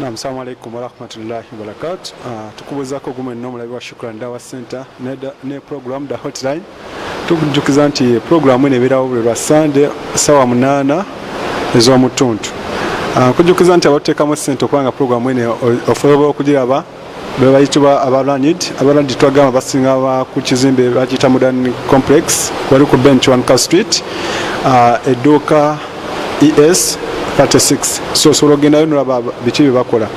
Naam, salamu alaikum warahmatullahi wabarakatu. Uh, ah, tukubuzaako gumu enno omulabi wa Shukran Dawa Center ne, ne program da hotline tukujukiza nti program eno ebeerawo buli lwa Sunday sawa munaana ez'omutuntu. Uh, ah, kujukiza nti abatuteekamu ssente okubanga program eno ofooba okugiraba bebayitibwa abaranid abaranid twagamba basinga ku kizimbe bakiyita modern complex wali ku bench one car street uh, edduuka es 36 so osobola ogendayo nolaba biki byebakola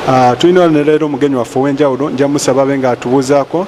uh, tulina neleero omugenyi waffe owenjawulo njamusaba be nga atubuuzaako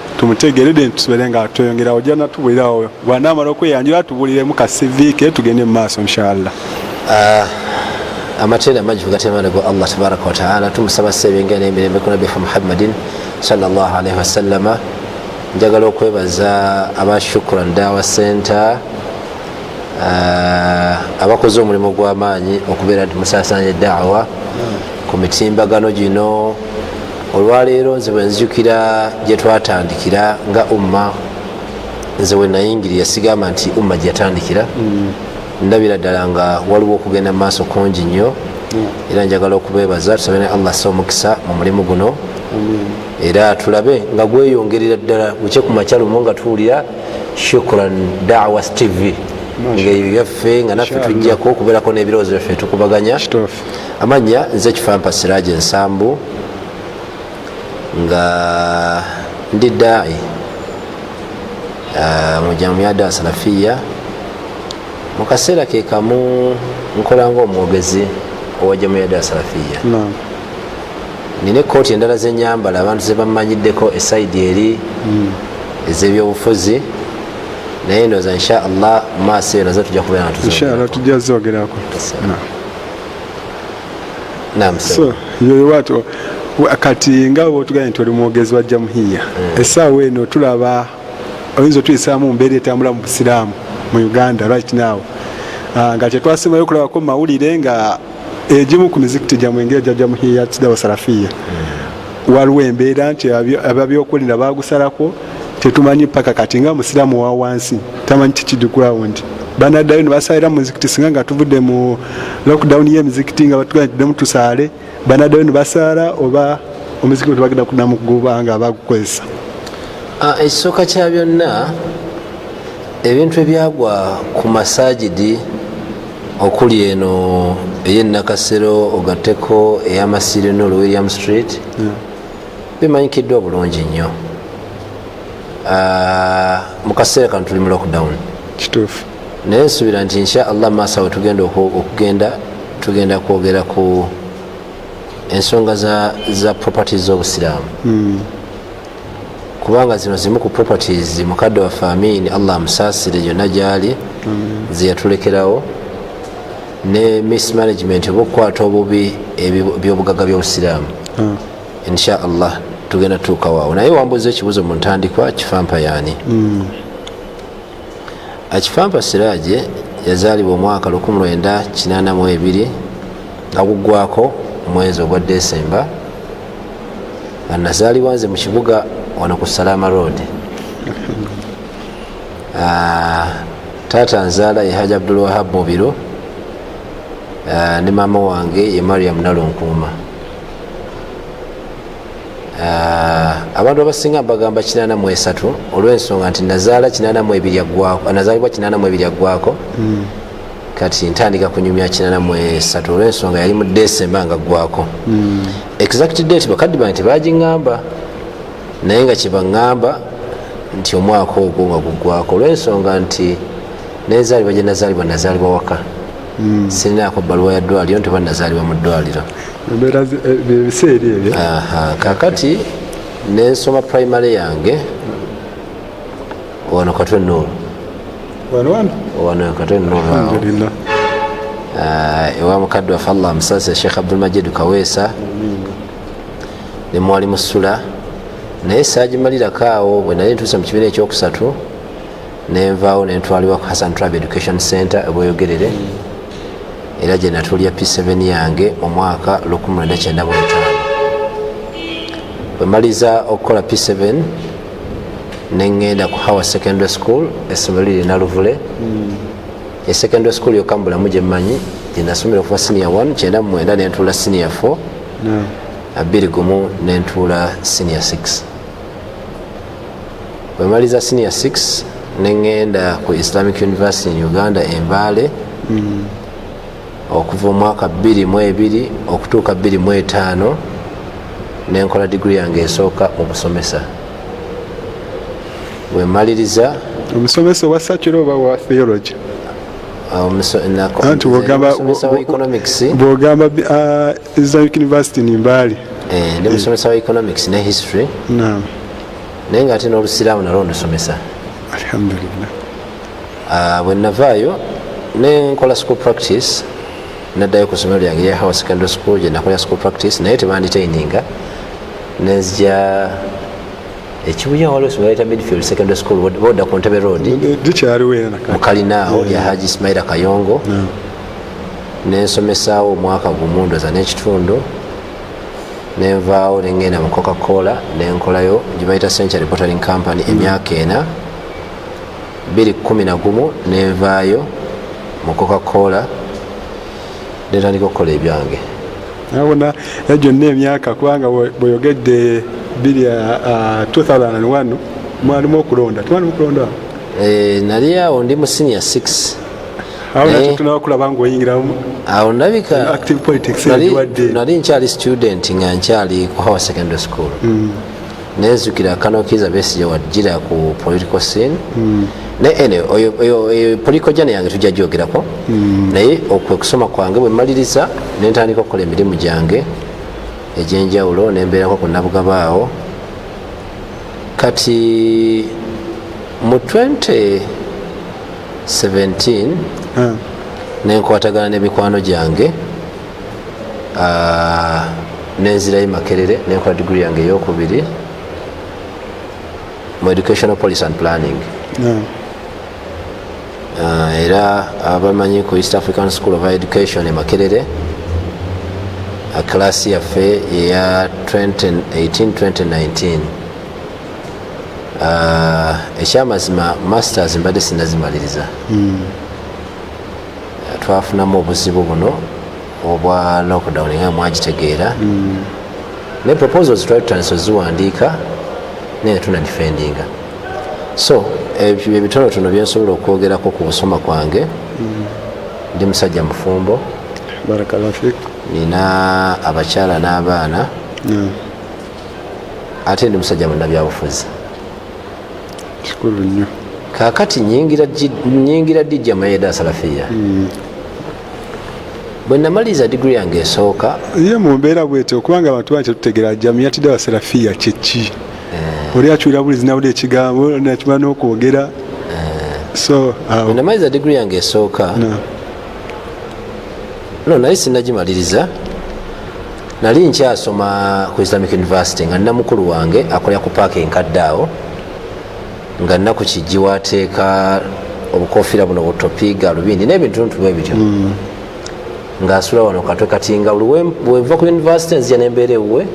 tumutegere then tusubire nga tweyongera ojja natubulirawo bwanamala okweyanjula atubuliremu ka cv ke tugende mu maaso inshallah ah, amatendo amangi kugatemana gwa allah tabaraka wataala tumusaba sebenga nemirembe ku nabbi muhammadin salllah alaihi wasallama njagala okwebaza aba shukran dawa center ah, abakoze omulimu gw'amaanyi okubeera nti musaasaanya eddaawa ku mitimbagano gino olwaleero nze bwenzijukira gyetwatandikira nga umma nze wenayingiri yasigamba nti umma gyeyatandikira mm. ndabira ddala nga waliwo okugenda mumaaso kungi nnyo mm. era njagala okubebaza tusabe ne allah sa omukisa mu mulimu guno mm. era tulabe nga gweyongerera ddala bukye ku makyalumu nga tuwulira shukran dawas tv ngeyo yaffe nga naffe tujjako okubeerako n'ebirowoozo byaffe tukubaganya amannya nze kifampa siraje ensambu nga ndi daai ah, mujamuyada salafiya mu kaseera ke kamu nkola ngaomwogezi owa jamuyada salafiya nina ekooti endala zenyambala abantu zebammanyiddeko esaidi eri hmm. ezebyobufuzi naye ndoza inshaallah maaso eyo nazo tujja kubeera natuzaa tujja zogerako yoyowat kati nga wotugambye nti oli mwogezi wa jamuhiya hmm. esaawa eno tulaba oyinza otuyisaamu mumbeera etambula mu busiraamu mu uganda right now ah, nga kyetwasimayo okulabako mawulire nga egimu ku mizikiti gyamwe engeya jajja muhiya kidawa salafiya waliwo embeera nti ababyokulira bagusalako tetumanyi paka kati nga musiramu wa wansi tamanyi kikidi ground banaddayo nebasalira mumizikiti singa nga tuvudde mu lockdown yemizikiti nga batugaidemu tusaale banaddayo nebasaala oba omuzikiti tebagenda kudamu kuguba nga bagukozesa ah, ekisooka kya byonna ebintu ebyagwa ku masajidi okuli eno eyenakasero ogateko eyamasiro eno olu william street hmm. bimanyikiddwa bulungi nnyo ah, mukaseera kano tuli mu lockdown kituufu naye nsuubira nti insha allah maaso awo tugenda okugenda tugenda kwogera ku ensonga za properties z'obusiraamu hmm. kubanga zino zimu ku properties mukadde wa famini allah amusaasire yonna gyali zeyatulekerawo ne mismanagement oba okukwata obubi ebyobugaga byobusiraamu hmm. insha allah tugenda tutuukawaawo naye wambuuza ekibuzo mu ntandikwa kifampa yaani hmm. akifampa siraje yazaalibwa omwaka 1982 nga guggwako omwezi ogwa desemba nga nazaalibwa nze mu kibuga wano ku salama road ah, taata nzaala ye haji abdulwahab mubiro ah, ne maama wange ye mariam nalunkuuma Ah, abantu abasinga mbagamba 83 olwensonga nti nazaala 82 agwako hmm. kati ntandika kunyumya 83 olwensonga yali mu decemba nga gwako hmm. exact date bakaddi bange tebagingamba naye nga kyebaŋamba nti omwaka ogwo nga gugwako olwensonga nti nenzaalibwa gyenazaalibwa nazaalibwa waka hmm. sinaako bbaluwa ya ddwaliro nti oba nazaalibwa mu ddwaliro ebiseeri eh, ebyo kakati nensoma primary yange wano katwe nuulu wano katwe nuulu ah, ewa mukadde wafe allah musasa sheikh abdulmajid kaweesa nemwali musula naye saagimalirako awo bwe nali ntuuse mu kibiina ekyokusatu nenvaawo nentwalibwa ku hassan tribe education center ebweyogerere era gye natulya p7 yange mu mwaka 1995 bwemaliza okukola p7 nengenda ku hower secondary school essomero liri naluvule e secondary school yokka mu bulamu gyemmanyi gyenasomera okuva senior 1 kyenda mumwenda nentuula senior 4 abiri gumu nentuula senior 6 bwemaliza senior 6 nengenda ku islamic university in uganda embaale mm. okuva omwaka 22 okutuuka 25 nenkola digiri yange esooka mu busomesa wemaliriza omusomesa owa sakiro oba wa theology ah, anti bwogamba ah, islamic university nimbaali eh, ndi musomesa wa economics ne history naye nga ate n'olusiraamu nalwo ndusomesa alhamdulillah ah, bwe navaayo nenkola school practice naddayo ku somero lyange ya house secondary school gye nakola school practice naye tebanditaininga nenzija ekibuya waliwo esomero yayita midfield secondary school boda ku ntebe road mukalinaawo ya haji ismaila kayongo nensomesaawo omwaka gumu ndoza n'ekitundu nenvaawo nengenda mu coca cola nenkolayo gyebayita century bottling company mm. emyaka ena biri kumi nagumu nenvaayo mu coca cola netandika okukola ebyange nabona eh, gyonna emyaka kubanga bweyogedde biri 2001 mwalimu okulonda twalimu okulonda eh, nali awo ndi mu senior 6 awo nakyo eh? tunaba kulaba nga oyingiramu awo ndabika nali nkyali student nga nkyali ku howe secondary school hmm. nenzukira kanokiza besija wajira ku political scene hmm. naye oyo political jana yange tujja gyogerako hmm. naye okwekusoma kwange bwemaliriza nentandika okukola emirimu gyange egyenjawulo nembeerako ku nabugaba awo kati mu 20 17 hmm. nenkwatagana nemikwano gyange ah, nenzirayo makerere nenkola digiri yange eyokubiri mu educational policy and planning hmm. ah, era abamanyi ku east african school of education emakerere ah, class yaffe eya 2018 2019 Ah, ekyamazima masters mbadde sinazimaliriza hmm. ah, twafunamu obuzibu buno obwa lockdown nga mwagitegeera hmm. ne proposals twali tutandisa oziwandiika naye tuna defendinga so ebyo ebitonotono byensobola okwogerako ku busoma kwange hmm. ndi musajja mufumbo nina abakyala n'abaana ate ndi musajja munabyabufuzi kikulu nnyo kakati nyingira dijja mayeda salafiya hmm. bwe namaliriza digiri yange esooka ye mu mbeera bwetyo okubanga abantu bangi tetutegera jamiyatidde abasalafiya kyeki eh. oli acuira buli zinawulira ekigambo nakima n'okwogera eh. so bwe namaliriza digiri yange esooka no naye sinagimaliriza nali nkyasoma ku islamic university nga nina mukulu wange akolera ku paaka enkadde awo nga nnaku kijji wateeka obukofiira buno butopiiga alubindi n'ebintuntu bwe bityo mm. ngaasula wano katwe kati nga bweva ku university nzija nembeera ewuwe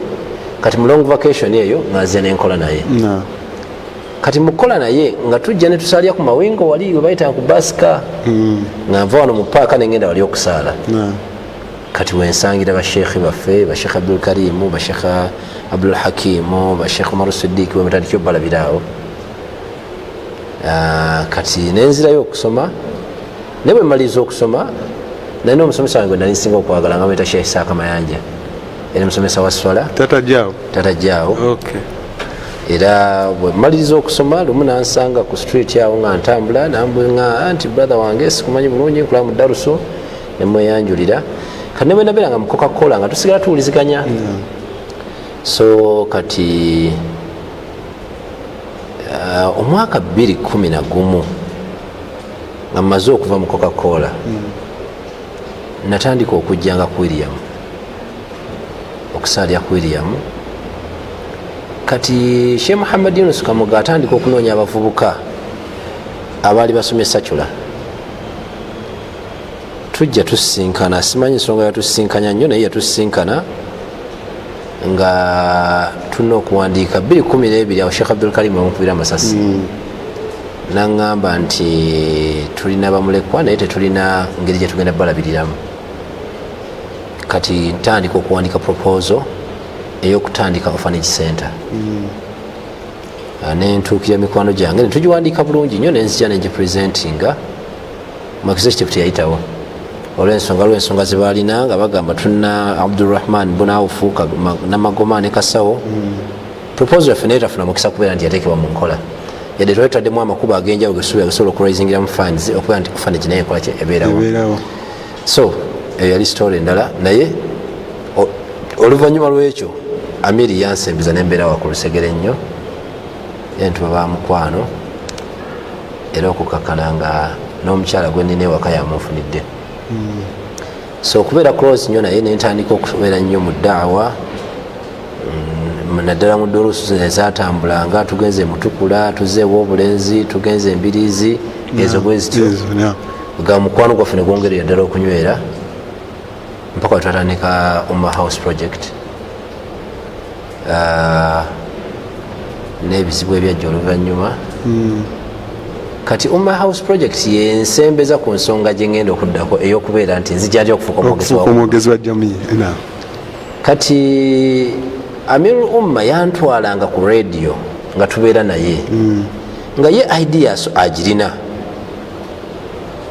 kati mu long vacation eyo nga nzija nenkola naye kati mukukola naye nga tujja netusalya ku mawingo wali webayitanga ku basika mm. nga nva wano mu paaka nengenda wali okusaala kati wensangira bashekhe baffe bashekh abdul karimu bashekh abdul hakimu bashekh umaru sidiki webatandikyo balabiraawo ah, kati nenzirayo okusoma naye bwemaliriza okusoma naye nomusomesa wange nali nsinga okwagala nga mweta shekh isaaka mayanja era musomesa wa swala tatajaawo era bwemaliriza okusoma lumu nansanga ku street awo nga ntambula nambwenga anti brother wange sikumanyi bulungi nkulaa mudaruso nemweyanjulira kati nebwenabeera nga mukoka kola nga tusigala tuwuliziganya hmm. so kati uh, omwaka bbiri kumi nagumu nga mumaze okuva mukoka kola hmm. natandika okujjanga ku william okusaalya ku william kati she muhammad yunus kamuga atandika okunoonya abavubuka abaali basomye sacula tujja tusisinkana simanyi ensonga yatusisinkanya nnyo naye yatusisinkana nga tulina okuwandiika 212 awo sheekh abdulkarim amukubira amasasi hmm. naŋŋamba nti tulina bamulekwa naye tetulina ngeri gyetugenda balabiriramu kati ntandika okuwandika proposal eyokutandika orphanage center hmm. ah, nentuukira mikwano gyange netugiwandiika bulungi nnyo nenzija negipresentinga mu executive teyayitawo olwensonga lwensonga zebalina nga bagamba tulina abdurahman bunawufu namagoma ne kasawo proposal yaffe naye tafuna mukisa kubeera nti yateekebwa mu nkola yadde twali tutaddemu amakubo agenjawulo gesubi agasobola okuraisingiram funds okubeera nti kufana kinaye ekolaki ebeerawo so eyo yali story endala naye oluvannyuma lwekyo amiri yansembiza nembeera wakulu segere nnyo entuba bamukwano era okukakkana nga n'omukyala gwe nina ewaka yamunfunidde hmm. so okubeera close nyo naye nentandika okubeera nnyo mu daawa mm, naddala mu dolusu ezatambulanga tugenze mutukula tuzeewo obulenzi tugenze embiriizi ezo bwezityo nga mukwano gwaffe negwongerera ddala okunywera mpaka wetwatandika umma house project uh, n'ebizibu ebyajja oluvannyuma hmm. kati umma house project yensembeza ku nsonga gye ngenda okuddako ey'okubeera nti nzijatya okufuuka omwogezi wa jamiyi kati amir umma yantwalanga ku radio nga tubeera naye hmm. nga ye ideas agirina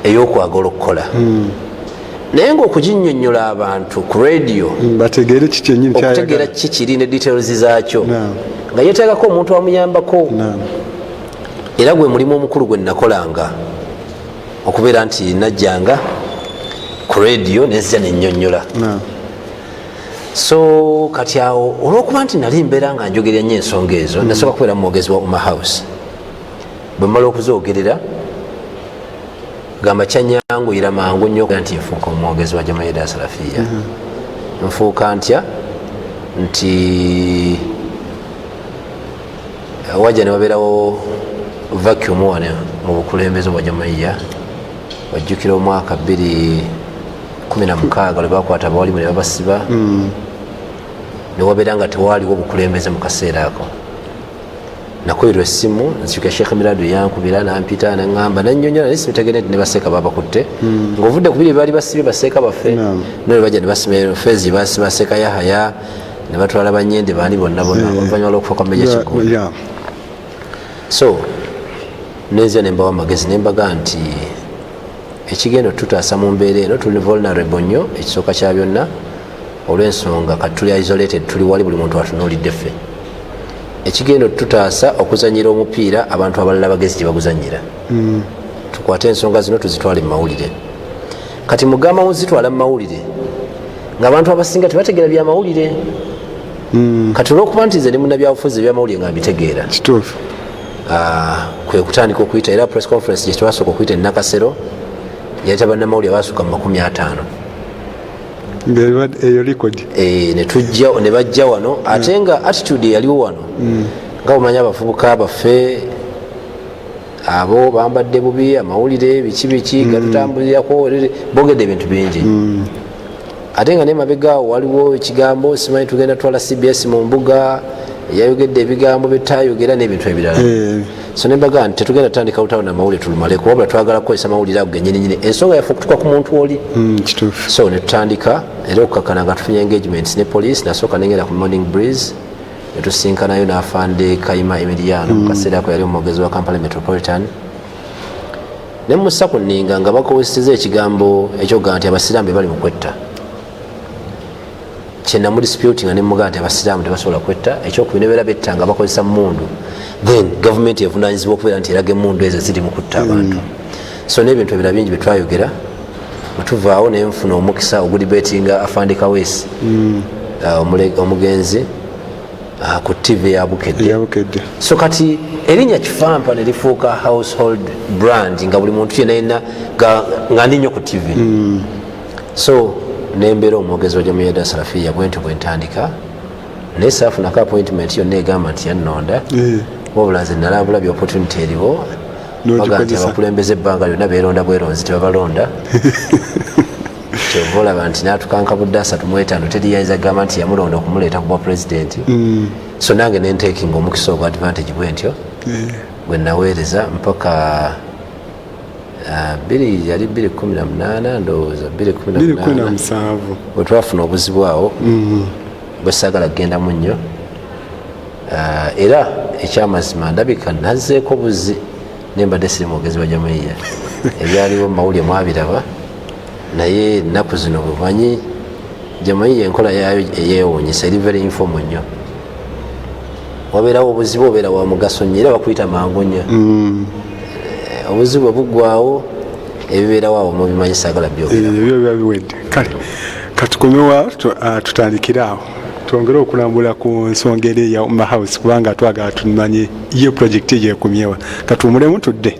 ey'okwagala okukola hmm. naye nga okuginyonyola abantu ku radio mm, bategeere kikyenyini okutegeera ki kiri ne details zakyo nga yetagako omuntu amuyambako era gwe mulimu omukulu gwe nakolanga okubeera nti najjanga ku radio nezza nenyonyola so kati awo olwokuba nti nali mbeera nga njogerya nyo ensonga ezo mm. nasooka kubeera mumwogezi wa uma house bwemala okuzogerera gamba kyanyanguyira mangu nyo nti nfuuka omwogezi wa jamaida salafiya mhm. nfuuka ntya nti eh, waja newabeerawo vacuum wana mu bukulembeze bwa jamaiya wajjukira omwaka 216 lwebakwata abawalimu nebabasiba mhm. newabeera nga tewaaliwo obukulembeze mu kaseera ako nakoyerwa essimu nzikya sheekh mirado yankubira nampita naŋamba nanyonyola naye sibitegere nti nebaseeka babakutte hmm. ngaovudde kubiri baali basibye baseeka baffe naye baja nebasibafezi basiba seeka yahaya nebatwala banyende baani bonna bona eh. oluvanyuma lwokufa kwa meja kigo so nenzia nembawa amagezi nembaga nti ekigenda otutaasa mu mbeera eno tuli vulnerable nnyo ekisooka kya byonna olwensonga kati tuli isolated tuli wali buli muntu atunulidde ffe ekigenda otutaasa okuzanyira omupiira abantu abalala bagezi gyebaguzanyira mm. tukwate ensonga zino tuzitwale mumawulire kati mugamba muzitwala mumawulire ngaabantu abasinga tebategera byamawulire mm. kati olwokuba nti nze nemunabyabufuzi ebyamawulire nga mbitegeera ah, kwekutandika okuyita era press conference gyetwasooka okuyita enakasero yaleta banamawulire abasuka mu makumi ataano eyo likodi eh, netujja ne bajja wano mm. ate nga attitude eyaliwo wano mm. nga omanyi abavubuka baffe abo bambadde bubi amawulire biki biki mm. gatutambulirako bogedde ebintu bingi ate nga nemabega awo waliwo ekigambo simanyi tugenda twala cbs mu mbuga yayogedde ebigambo byetayogera n'ebintu ebirala eh. so nembaga nti tetugenda tutandika lutalo na mawulire tulumale kuwabula twagala kukozesa mawulire ago genyininyini ensonga yaffe okutuka ku muntu oli hmm, so netutandika era okukakana nga tufunye engagements ne police nasooka nengenda ku morning breeze netusinkanayo nafande kaima emiliano hmm. mukaseera ako yali omwogezi wa kampala metropolitan nemusa ku ninga nga bakozeseza ekigambo ekyoga nti abasiraamu bebali mu kwetta kyenamu disputinga nemugaa nti abasiraamu tebasobola kwetta ekyokubiri nebeera betta nga bakozesa mundu then gavumenti evunanyizibwa okubeera nti eraga emundu ezo ziri mu kutta abantu mm. so nebintu ebira bingi byetwayogera bwetuvaawo naye nfuna omukisa ogudibetinga afandika wesi mm. uh, omugenzi uh, ku tv yabukedde so kati erinya kifampa nerifuuka household brand nga buli muntu yenayina nga ndi nyo ku tv mm. so nembeera omwogezi wajamuyada sarafiya bwentyo bwentandika naye saafunako appointment yonna egamba nti yannonda eh. wabula nze nalambula by opportunity eriwo baga nti abakulembeza ebbanga lyonna beeronda bweronzi tebabalonda kyova olaba nti natukanka budde asatu mwetaano teri yayinza kugamba nti yamulonda okumuleeta kubwa pulezidenti mm. so nange nentekinga omukisa ogwa advantage bwentyo eh. bwe naweereza mpaka Ah, biri yali biri kumi na munaana ndowooza biri kumi na musanvu bwetwafuna obuzibu awo mm-hmm. bwesagala kugendamu nnyo ah, era ekyamazima ndabika nazeeko buzi nembadde siri mwogezi wa jamaiya ebyaliwo mumawulire mwabiraba naye ennaku zino bumanyi jamaiya enkola yaayo eyewunyisa eri very informal nnyo wabeerawo obuzibu obeera wa mugaso nyo era bakuyita mangu nyo mm. eh, obuzibu obugwawo ebibeerawo awo mubimanyi sagala byobiwedde eh, kale katukomewa ah, tutandikire awo twongere okulambula ku nsonga eri eya umma house kubanga twagala tumanye ye projekiti eyo ekumyewa katuwumulemu tudde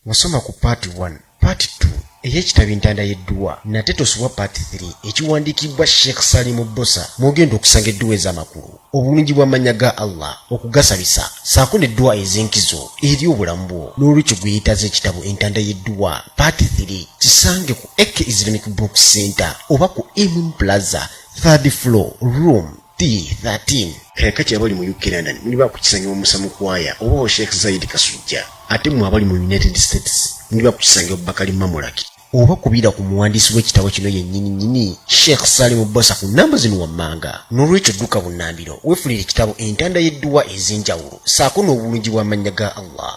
wasoma ku part 1 Part 2 ey'ekitabo entanda y'edduwa nate tosubwa part 3 ekiwandiikibbwa sheikh salimu bbosa mwogenda okusanga edduwa ez'amakulu obulungi bw'amannya ga allah okugasabisa saako n'edduwa ez'enkizo eri obulamu bwo n'olwekyo gweyetaaza ekitabo entanda y'edduwa part 3 kisange ku ek islamic book center oba ku imun plaza third floor room D13 kaya kati abali mu UK London muli bakukisanyiwa musa mukwaya oba wa Sheikh Zaid Kasujja ate mwe abali mu United States muli bakukisanyiwa Bakali Mamulaki oba kubira ku muwandiisi w'ekitabo kino yennyini nyini Sheikh Salimu Bosa ku nnamba zino wammanga n'olwekyo dduka bunnambiro weefulire ekitabo entanda y'edduwa ez'enjawulo saako n'obulungi bw'amannya ga Allah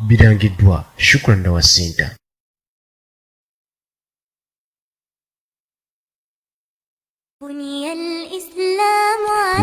birangiddwa Shukran Dawa Center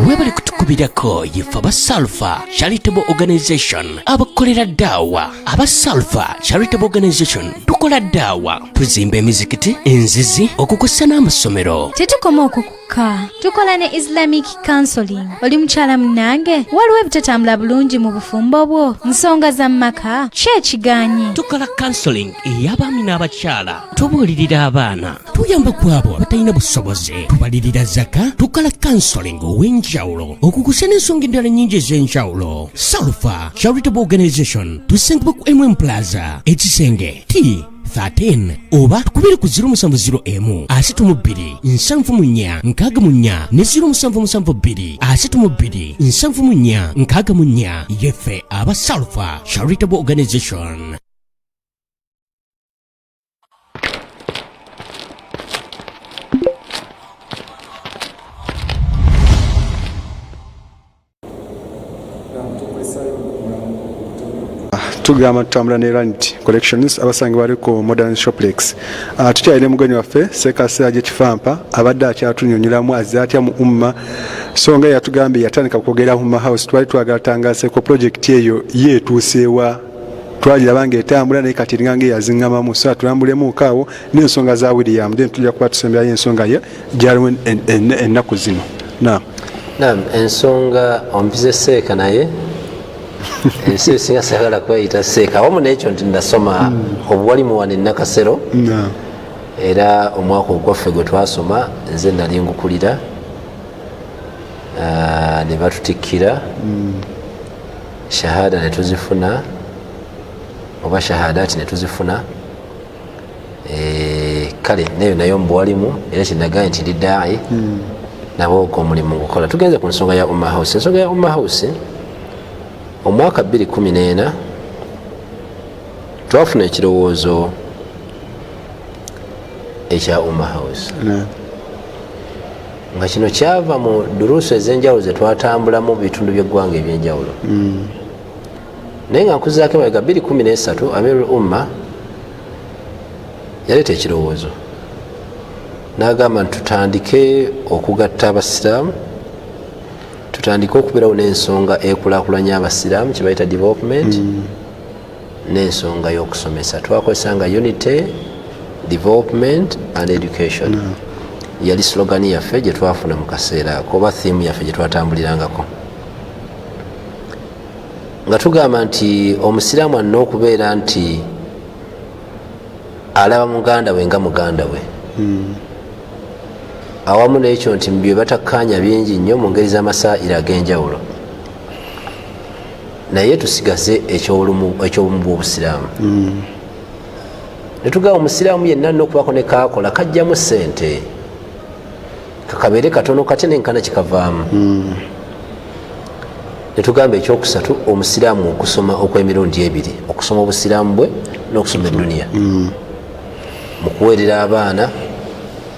webale kutukubirako yefe aba salfa charitable organization abakolera daawa aba salfa charitable organization tukola daawa tuzimba emizikiti enzizi okukusa n'amasomero tetukoma okwo kokka tukola ne islamic counseling oli mukyala munange waliwo ebitatambula bulungi mu bufumbo bwo nsonga za mumaka ki ekigaanye tukola counseling ey'abaami n'abakyala tubuulirira abaana tuyamba ku abo abatalina busobozi tubalirira zaka tukola kansoling ow'enjawulo okukusa n'ensonga endala nnyingi ez'enjawulo salfa charitable organization tusangibwa ku mm plaza ekisenge t 13 oba tukubire ku 0701 asatu mu bbiri nsanvu mu nnya nkaaga mu nnya ne 0772 asatu mu bbiri nsanvu mu nnya nkaaga mu nnya yeffe aba salfa charitable organization tugamba tutambula ne ranit collections abasange bali ku modern shoplex ah, tukyalire mugenyi waffe sekasera gyekifampa abadde akyatunyonyolamu azze atya mu umma so nga yatugambye yatandika kwogera umma house twali twagala tangaseko project eyo yeetuuseewa twagiraba ngaetambula naye kati eringa ngaeyazingamamu so atulambulemuko awo nensonga za william then tujja kuba tusemberayo ensonga ye gyaliwo ennaku zino nam nam ensonga ompize seeka naye ensi esinga sagala kweyita seeka wamu nekyo nti nasoma hmm. obuwali muwana enakasero era omwaka ogwaffe gwe twasoma nze nali ngukulira ah, ne batutikkira hmm. shahada netuzifuna oba shahadati netuzifuna eh, kale nayo nayo mbuwalimu era kyenagaye nti ndi daai hmm. nabo ogwo omulimu ngukola tugenze ku nsonga ya umma house ensonga ya umma house omwaka 214 twafuna ekirowoozo ekya umma house nga kino kyava mu duruusu ez'enjawulo ze twatambulamu mu bitundu by'eggwanga eby'enjawulo hmm. naye nga nkuzaako emabega 213 amirul umma yaleeta ekirowoozo n'agamba nti tutandike okugatta abasiraamu tutandike okubeerawo n'ensonga ekulakulanya abasiraamu kyebayita development mm. n'ensonga y'okusomesa twakozesa nga unity development and education mm. yali slogani yaffe gye twafuna mu kaseera ako oba thiimu yaffe gye twatambulirangako nga tugamba nti omusiraamu alina okubeera nti alaba muganda we nga muganda we hmm. awamu nekyo nti byebatakkaanya bingi nnyo mu ngeri z'amasaira ag'enjawulo naye tusigaze ekyobumu bwobusiraamu hmm. netugamba omusiraamu yenna alina okubaako nekakola kajjamu sente kakabeere katono katya nenkana kikavaamu hmm. netugamba ekyokusatu omusiraamu okusoma okwemirundi ebiri okusoma obusiraamu bwe nokusoma eduniya hmm. mukuweerera abaana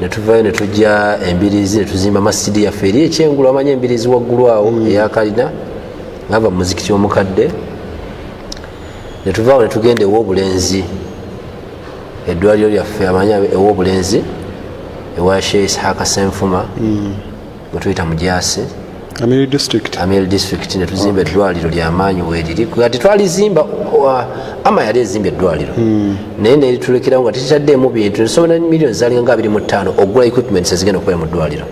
netuvayo netujja embirizi netuzimba masidi yaffe eri ekyengulu amanya embirizi waggulu awo mm. eyakalina ngava mumuzikiti omukadde netuvaawo netugenda ewobulenzi edwaliro lyaffe amanya ewobulenzi ewa shee isihaka senfuma mm. wetuyita mujaasi amiri district amiri district netuzimba eddwaliro lyamaanyi weriri kati twalizimba ama yali ezimba eddwaliro hmm. naye neritulekerawo nga tetitaddeemu bintu nesobola millioni zalinga nga abiri mu ttaano okugula equipments ezigenda okukola mu ddwaliro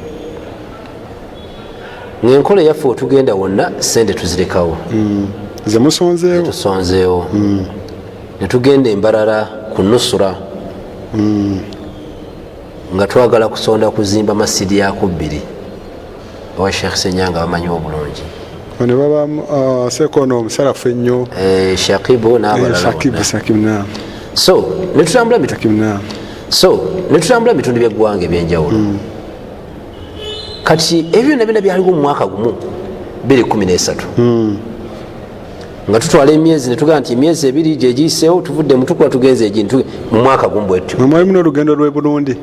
ngaenkola eyaffe wetugenda wonna sente tuzirekawo hmm. zemusonzeewotusonzeewo hmm. netugenda embarara ku nusura nga twagala kusonda kuzimba masidi yakubbiri owa sheikh senyanga bamanyi obulungi bano baba uh, sekono omusalafu ennyo eh, shakibu eh, nabalala so netutambula so netutambula bitundu byeggwanga ebyenjawulo mm. kati ebyo byona byona byaliwo mu mwaka gumu 213 nga tutwala emyezi netugaa nti emyezi ebiri gyegiyiseewo tuvudde mutukula tugenza egintu mu mwaka gumu bwetyo mwali muna olugendo lwe burundi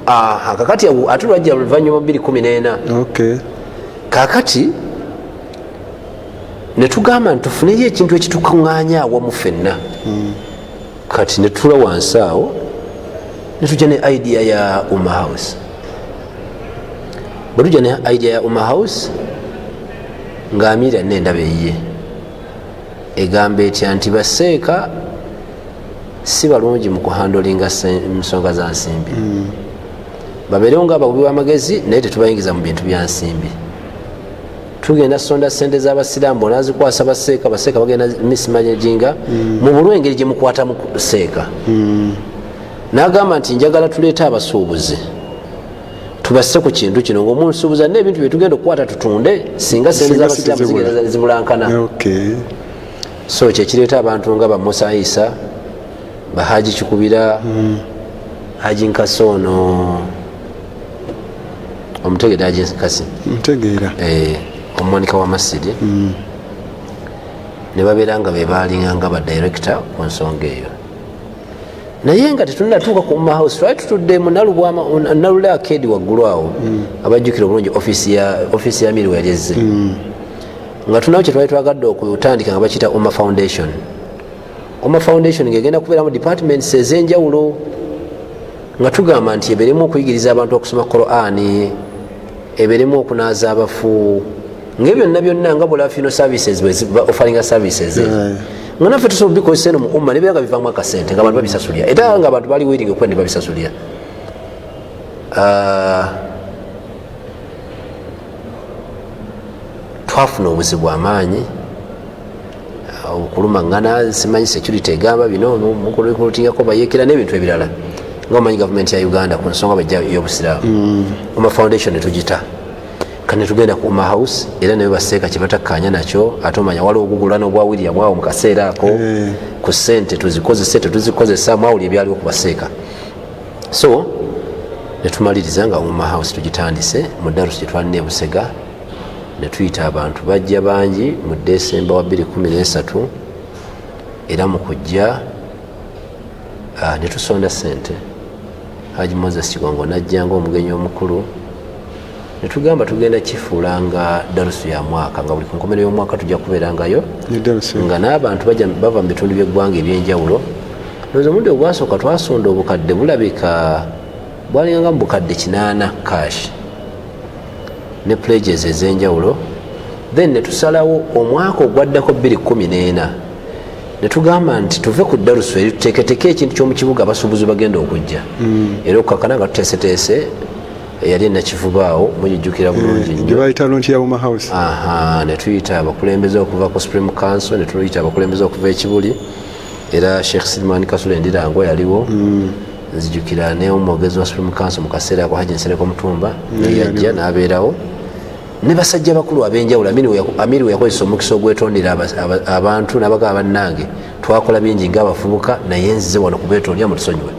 aha kakati ate lwajja luvanyuma biri kumi nena kakati netugamba nti tufuneyo ekintu ekitukuŋŋanya awamu fenna hmm. kati netula wansi awo netujja ne idea ya uma house bwetujja ne idea ya uma house nga amiira nendaba eyiye egamba etya nti baseeka si balungi mu kuhandolinga nsonga za nsimbi mm. babeerewo nga abagubi b'amagezi naye tetubayingiza mu bintu bya nsimbi tugenda sonda sente zabasiramu bona azikwasa baseeka baseeka bagenda mismanaginga mm. mubulu engeri gyemukwatamu seeka mm. nagamba nti njagala tuleete abasuubuzi tubasse ku kintu kino ngaomunsuubuza na ebintu byetugenda okukwata tutunde singa sente zabasiramu zigenda zibulankana so kyekireeta abantu nga bamusa isa bahaji kikubira mm. haji nkasi ono omutegede ajenkasi ntegeera eh, omwanika wa masiri mm. ne babeera nga bebalinga nga badirekita ku nsonga eyo naye nga tetunatuuka ku mahouse twali tutudde munalubwamanalule akedi waggulu awo mm. abajjukira obulungi ofiisi ya miriwa yali ezze mm. nga tunawo kyetwali twagadde okutandika nga bakiyita oma foundation oma foundation ngegenda kubeeramu departments ezenjawulo nga tugamba nti eberemu okuyigiriza abantu okusoma qurani eberemu okunaaza abafu ngae byonna byonna nga bulafino services ofalinga services nga naffe tusobola bikozesa eno muumma nebeera nga bivamu akasente nga abantu babisasulira era nga abantu bali wiringa okuba nebabisasulira ah, twafuna obuzibu amaanyi okulumangana simanyi security egamba bino mukulikurutingako bayekera nebintu ebirala nga omanyi gavumenti ya uganda ku nsonga bajja yobusiraamu mm. oma foundation netugita kane tugenda ku oma house era naye baseeka kyebatakkaanya nakyo ate omanya waliwo ogugulana ogwa william awo mu kaseera ako eh. ku sente tuzikozese tetuzikozesa mwawuli ebyaliwo ku baseeka so netumaliriza nga oma house tugitandise mu darusi gyetwalina ebusega ne tuyita abantu bajja bangi mu desemba wa 213 era mu kujja ah, ne tusonda sente haji moses kigongo najja nga omugenyi omukulu netugamba tugenda kifuula nga darusu ya mwaka nga buli kunkomero yomwaka tujja kubeerangayo nga n'abantu bava mu bitundu byeggwanga ebyenjawulo noza omundi ogwasooka twasonda obukadde bulabika bwalinganga mubukadde kinaana cash ne plages ezenjawulo then netusalawo omwaka ogwaddako 214 netugamba nti tuve ku darusu eri tuteketeke ekintu kyomukibuga abasuubuzi bagenda okujja mm. era okukakana nga tuteeseteese eyali enakivubaawo mujijukira bulungi eh, netuyita abakulembeze okuva ku supreme council netuyita abakulembeze okuva ekibuli era sheikh silman kasula endirango yaliwo mm. nzijukira ne omwogezi wa supreme council mu kaseera ako haji nsereko mutumba neyajja nabeerawo ne basajja bakulu abenjawulo amiri weyakozesa omukisa ogwetondera abantu nabagaba bannange twakola bingi nga abafubuka naye nzize wano kubetondera mutusonyiwe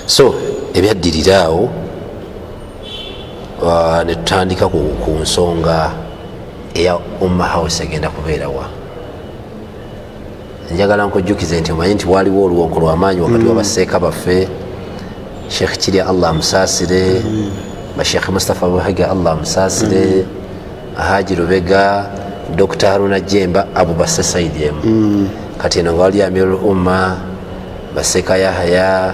so ebyaddirira awo uh, netutandika ku nsonga eya umma house egenda kubeerawa njagala nkujjukize nti omanyi nti waliwo oluwoko lwamaanyi wakati mm. wabaseeka baffe sheekh kirya allah amusaasire mm. basheekh mustapha buhiga allah amusaasire mm. haji lubega dr haruna jemba abo basse saidi emu mm. kati eno nga wali amir lumma baseeka yahaya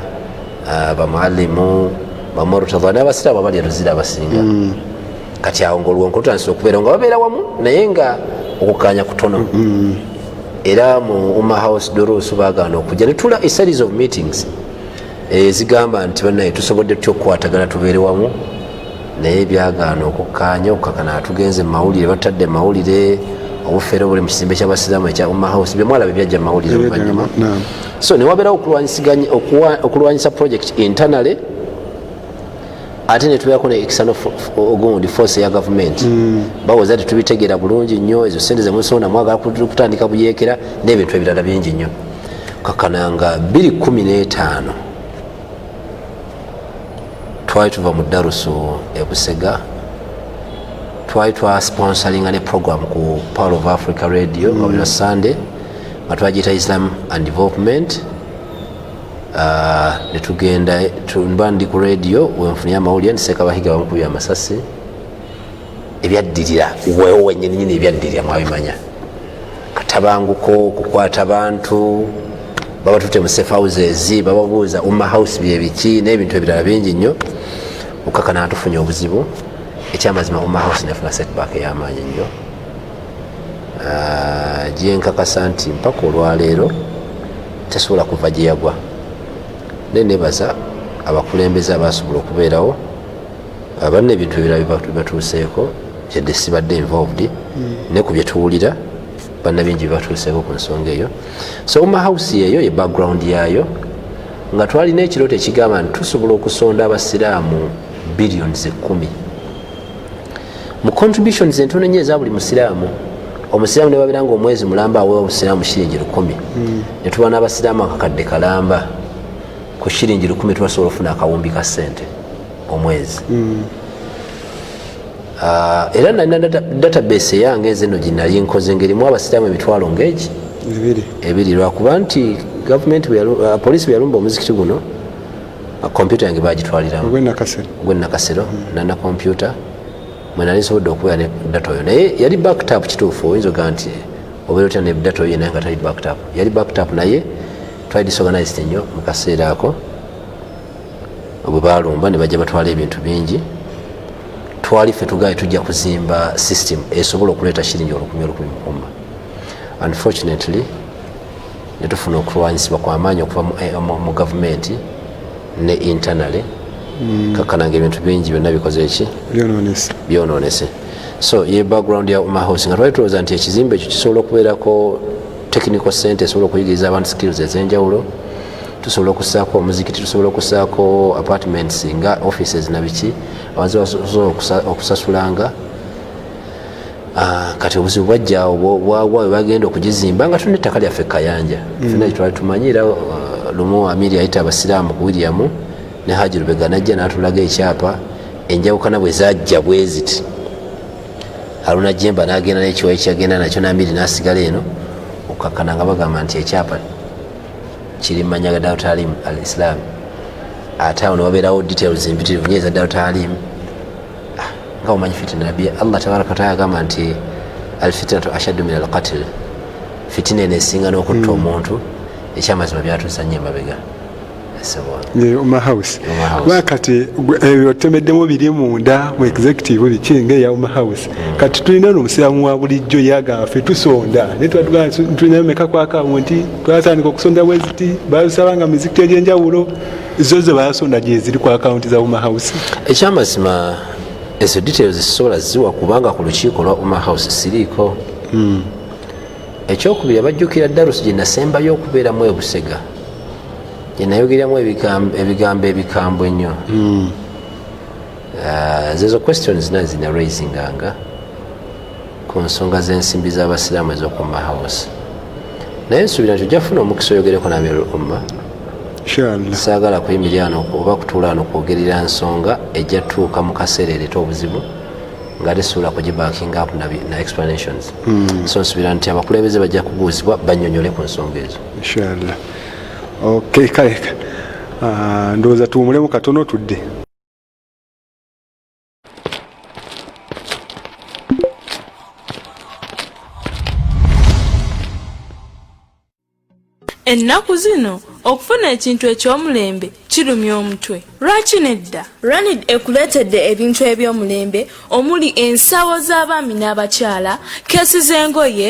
uh, bamualimu bamurtadha nabasiraamu abali eruzira abasinga mm. kati awo ngaoluwonko lutandisa okubeera nga babeera wamu naye nga okukanya kutono mm-hmm. era mu uma house dorusu bagaana okujja netula a series of meetings ezigamba eh, nti banaye tusobodde tutya okukwatagana tubeere wamu naye byagaana okukkaanya okukakana atugenze mumawulire batadde mumawulire obufere obuli mu kizimbe kyabasiramu ekya umma house byemwala bebyajja mumawulire oluvanyuma so newabeerawo okulwanyisa project internally ate netubeerako ne external ogundi force ya gavumenti mm. bawoza tetubitegeera bulungi nnyo ezo sente zemusonda mwagala kutandika buyeekera n'ebintu ebirala bingi nnyo kakananga 215 twali tuva mu darusu ebusega twali twasponsoringa ne program ku power of africa radio mm. nga buli lwa sunday nga twagiyita islam and development Ah, netugenda mba ndi ku radio wenfunye amawulire nti sekabahiga bamukubye amasasi ebyaddirira wewo wenyininyini ebyaddirira mwabimanya katabanguko okukwata bantu baba tute mu safe houses bababuuza umma house byebiki n'ebintu ebirala bingi nnyo okakana atufunye obuzibu ekyamazima umma house nefuna setback eyamaanyi nnyo ah, gyenkakasa nti mpaka olwaleero tasobola kuva gye yagwa naye nebaza abakulembeze abasobola okubeerawo abanna ebintu ebirala bibatuuseeko yadde sibadde involved ne ku byetuwulira banna bingi bibatuuseeko ku nsonga eyo so uma house yeeyo ye background yaayo nga twalina ekirooto ekigamba nti tusobola okusonda abasiraamu billions ekumi mu contributions entono nyo eza buli musiraamu omusiraamu nebabeera nga omwezi mulamba awewa obusiraamu shiringi lukumi hmm. netuba n'abasiraamu akakadde kalamba ku shiringi lukumi tubasobola okufuna akawumbi ka sente omwezi hmm. ah, era nalina database eyange eze no ginali nkoze ngaerimu abasiraamu emitwalo ngaegi ebiri lwakuba nti gavument ah, poliisi bweyalumba omuzikiti guno kompyuta yange bagitwaliramu gwenakasero nana kompyuta mwenali nsobodde okubeera ne data oyo naye yali backtap kituufu oyinza oga nti obeera otya ne data oyo naye nga tali backtap yali backtap naye twali disorganized nnyo mu kaseera ako bwe balumba ne bajja batwala ebintu bingi twali ffe tugaye tujja kuzimba system esobola okuleeta shiringi olukumi olukumi mukuma unfortunately ne tufuna okulwanyisibwa kwamaanyi okuva mu eh, gavumenti ne internally hmm. kakana nga ebintu bingi byonna bikoze ki byononese so ye background ya uma house nga twali tulowooza nti ekizimbe ekyo kisobola okubeerako technical center esobola okuyigiriza abantu skills ezenjawulo tusobola okusaako omuzikiti tusobola okusaako apartments nga offices nabiki abasobola okusasulanga Ah, kati obuzibu bwajjawo bwagwa webagenda okugizimba nga tulina ettaka lyaffe kayanja mm. fena kyetwali tumanyi era ah, lumu amiri yayita abasiraamu ku william ne haji lubega najja natulaga ekyapa enjawukana bwe zajja bweziti aluna jemba nagenda nekiwayi kyagenda nakyo namiri nasigala eno okukakana nga bagamba nti ekyapa kiri mumanya ga dautalim al islaam ate awo newabeerawo details mpitirivu nyo eza dautalim nga omanyi fitina nabbi allah tabaraka wataala agamba nti alfitinatu ashaddu min alqatil fitina eno esinga n'okutta hmm. omuntu ekyamazima byatuusa nyo emabega omahouse kuba kati ebyo tutemeddemu biri munda mu executive biki nga eya omahouse mm. kati tulina no omusiramu wa bulijjo yagamba fe tusonda naye tulinayo meka kwakawo nti twatandika okusonda bweziti balusaba nga mizikiti egyenjawulo zo zebasonda gyeziri ku akawunti za uma house ekyamazima ezo details sisobola ziwa kubanga ku lukiiko lwa uma house siriiko hmm. ekyokubiri abajjukira darusi gyenasembayo okubeeramu ebusega gyenayogeramu ebigambo ebikambwe ennyo hmm. Uh, zezo question zina zina raisinganga ku nsonga z'ensimbi z'abasiraamu ez'okumma house naye nsuubira nti ojjafuna omukisa oyogereko namirul umma saagala kuyimiryano oba kutuulaano kwogerera nsonga ejja tuuka mu kaseera ereeta obuzibu nga tesuula kugibanking up na explanations hmm. so nsuubira nti abakulembeze bajja kubuuzibwa banyonyole ku nsonga ezo kale ah, ndowooza tuwumulemu katono tudde ennaku zino okufuna ekintu eky'omulembe kirumya omutwe lwaki nedda ranid ekuleetedde ebintu eby'omulembe omuli ensawo z'abaami n'abakyala keesi z'engoye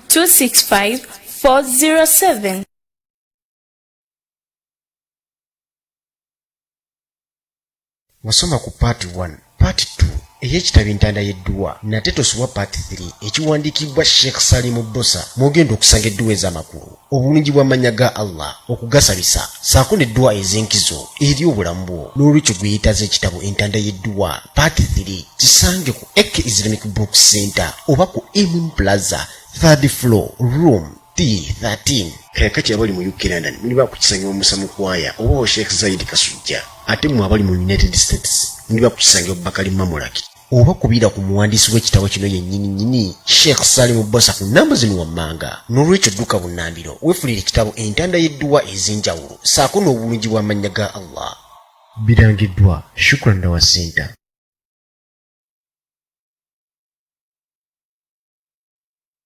265 407. wasoma ku part 1 part 2 ey'ekitabo entanda y'edduwa nate tosubwa part 3 ekiwandiikibbwa sheikh salimu bosa mwogenda okusanga edduwa ez'amakulu obulungi bw'amannya ga allah okugasabisa saako n'edduwa ez'enkizo eri obulamu bwo n'olwekyo gweyetaaza ekitabo entanda y'edduwa part 3 kisange ku Eke Islamic Book Center oba ku Emin Plaza third floor room T13 kakati abali mu UK London muli bakukisanyiwa Musa Mukwaya oba wa Sheikh Zaid Kasujja ate mwe abali mu United States muli bakukisanyiwa Bakali Mamulaki oba kubira ku muwandiisi w'ekitabo kino yennyini nnyini Sheikh Salimu Bosa ku nnamba zino wammanga n'olwekyo dduka bunnambiro weefulire ekitabo entanda y'edduwa ez'enjawulo saako n'obulungi bw'amannya ga Allah birangiddwa Shukran Dawa Center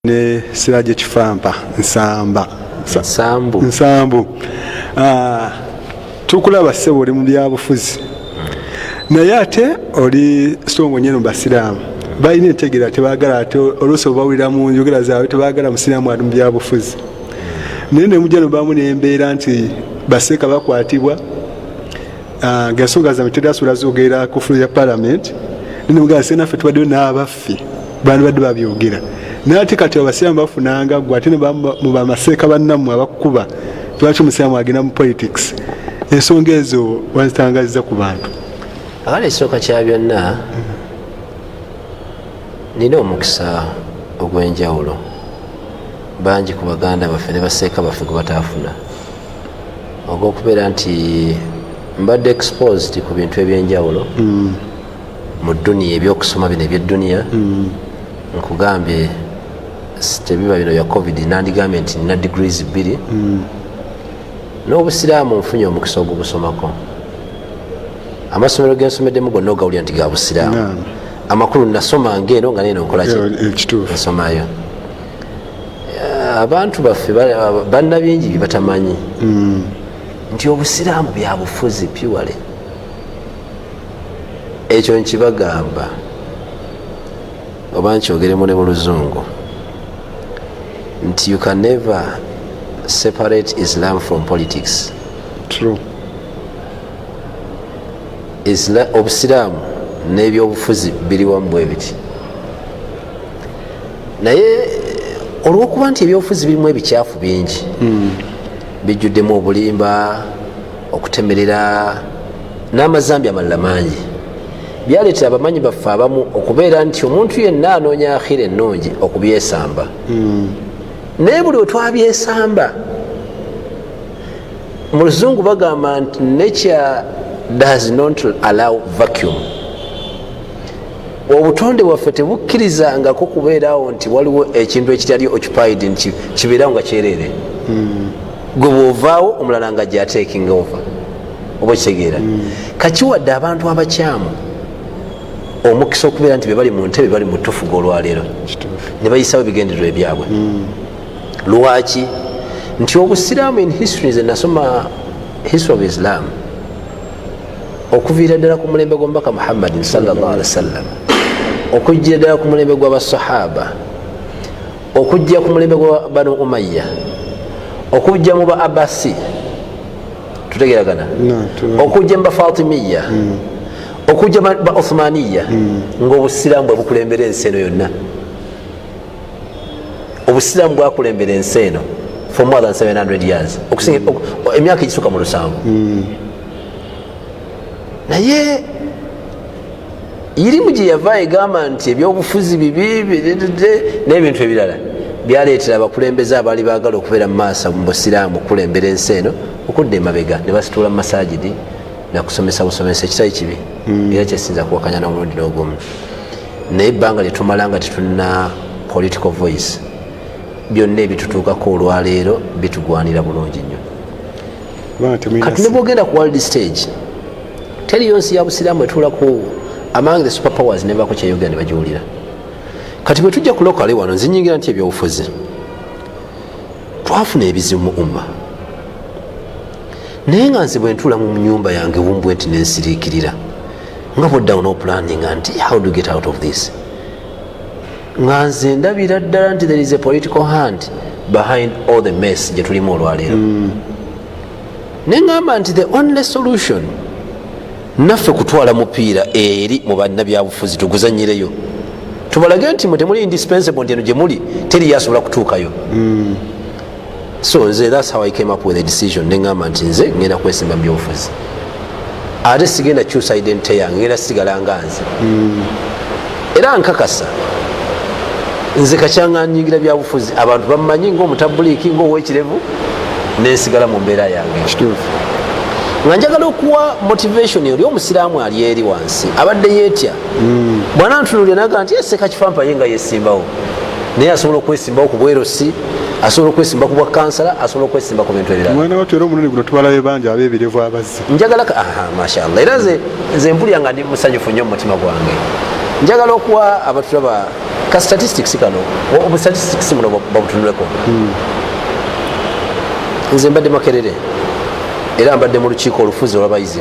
ne siraje kifampa nsamba nsambu nsambu ah, tukulaba sebo oli mu byabufuzi hmm. naye ate oli songo nyeno basiraamu balina entegera tebagala ate oluusi obawulira mu njogera zaabwe tebagala musiraamu ali mu byabufuzi naye nemuja nobamu nembeera nti baseeka bakwatibwa ah, nga ensonga zange teri asobola zogera ku fulo ya palamenti nenemugaa se naffe tubaddeyo n'abaffe bandibadde babyogera naye ate kati abasiraamu bafunanga gwe ate mubamaseeka bannammwe abakukuba lwaki omusiraamu agenda mu politics ensonga ezo wazitangaziza ku bantu abala ekisooka kya byonna nina omukisa ogw'enjawulo bangi ku baganda baffe ne baseeka baffe gwe bataafuna ogwokubeera nti mbadde exposed ku bintu ebyenjawulo mm. mu duniya ebyokusoma bino ebyedduniya mm. nkugambye tebiba bino bya covid nandigambye nti nina degrees bbiri mm. n'obusiraamu nfunye omukisa ogubusomako amasomero gensomeddemu gonna ogawulira nti ga busiraamu amakulu nasoma ngaeno nga neno nkolaki nsomayo abantu baffe banna bingi byebatamanyi hmm. nti obusiraamu byabufuzi piwale ekyo nkibagamba oba nkyogeremu ne mu luzungu nti you can never separate islam from politics True. obusiraamu n'ebyobufuzi biri wamu bwebiti naye olwokuba nti ebyobufuzi birimu ebikyafu bingi hmm. bijjuddemu obulimba okutemerera n'amazambi amalala mangi byaleetera abamanyi baffe abamu okubeera nti omuntu yenna anoonya akhira ennungi okubyesamba hmm. naye buli wetwabyesamba mu luzungu bagamba nti nature does not allow vacuum obutonde bwaffe tebukkirizangako kubeerawo nti waliwo ekintu ekitali occupied nti kibeerawo nga kyereere hmm. gwe bwovaawo omulala nga gyatekinga ova oba okitegeera hmm. kakiwadde abantu abakyamu omukisa okubeera nti bebali mu ntebe bali mu tufuga olwaleero ne bayisawo ebigendererwa ebyabwe hmm. lwaki nti obusiraamu in history ze nasoma history of islam okuviira ddala ku mulembe gw'omubaka muhammadin salllah alihi wasallam okujjira ddala ku mulembe gw'abasahaba okujja ku mulembe gwa banu umayya okujja mu ba abasi tutegeragana okujja mu bafatimiya hmm. okujja ba uthmaniya hmm. ngaobusiraamu bwebukulembera ensi eno yonna obusiraamu bwakulembera ensi eno for more than 700 years hmm. emyaka egisuka mu lusanvu naye irimu gye yava egamba nti ebyobufuzi bibi n'ebintu ebirala byaleetera abakulembeze abaali baagala okubeera mu maaso mu busiraamu okukulembera ensi eno okudda emabega ne basituula mu masajidi nakusomesa busomesa ekitali kibi hmm. era kyesinza kuwakanya n'omulundi n'ogumu naye ebbanga lyetumala nga tetulina political voice byonna ebitutuukako olwaleero bitugwanira bulungi nnyo kati nebwogenda ku world stage teriyo nsi ya busiraamu etuulaku among the super powers nebaako kyeyogera ne bagiwulira kati bwe tujja kulokale wano nzinyingira nti ebyobufuzi twafuna ebizibu mu umma naye nga nze bwentuula mu nyumba yange wumbwe nti nensiriikirira nga bwoddawo nopulaninga nti how do get out of this nga nze ndabira ddala nti there is a political hand behind all the mess gye tulimu olwaleero mm. ne ngamba nti the only solution naffe kutwala mupiira eri mu bannabyabufuzi tuguzanyireyo tubalage nti mwe temuli indispensable nti eno gye muli teri yasobola kutuukayo mm. so nze thats how i came up with a decision nengamba nti nze ngenda kwesimba mubyobufuzi ate sigenda kyusa identity yange ngenda sigala nga nze hmm. era nkakasa nze kakyanga nyingira byabufuzi abantu bamanyi ngaomutabuliiki ngaowekirevu nensigala mu mbeera yange nga njagala okuwa motivation oli omusiraamu ali eri wansi abadde yetya hmm. bwanantunulira naga nti eseka kifampaye nga yesimbawo naye asobola okwesimbawo ku bwerosi asobola okwesimba ku bwakansala asobola okwesimba ku bintu ebiralmwana watu era omulundi guno tubalabe bangi abebirevu abazze njagala mashallah era nze mpulira nga ndi musanyufu nnyo mumutima gwange njagala okuwa abatulaba ka statistics kano obustatistics muno babutunuleko hmm. nze mbadde makerere era mbadde mu lukiiko olufuzi olwabayizi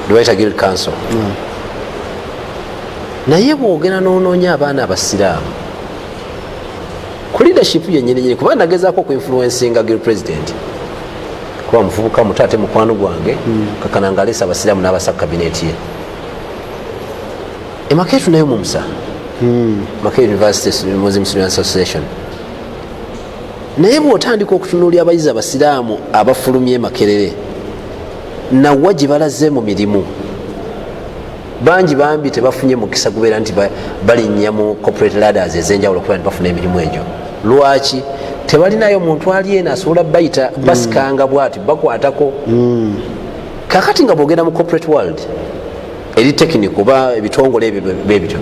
lwebayita guild council hmm. naye bwogera nononya abaana abasiraamu ku leadership yenyininyini kuba nagezaako okuinfluencinga gil president kuba mufubuka muto ate mukwano gwange hmm. kakana nga aleesa abasiraamu n'abasa kabineeti ye emakeetu nayo mumusa hmm. makee university muslim student association naye bwotandika okutunuulya abayizi abasiraamu abafulumye makerere nawa gye balaze mu mirimu bangi bambi tebafunye mukisa gubeera nti balinnya mu corporate ladders ezenjawulo kuba ntibafuna emirimu egyo lwaki tebalinayo muntu ali eno asobola bayita mm. basikanga bwati bakwatako mm. kakati nga bwogenda mu corporate world eri tekiniko oba ebitongole ebyo bebityo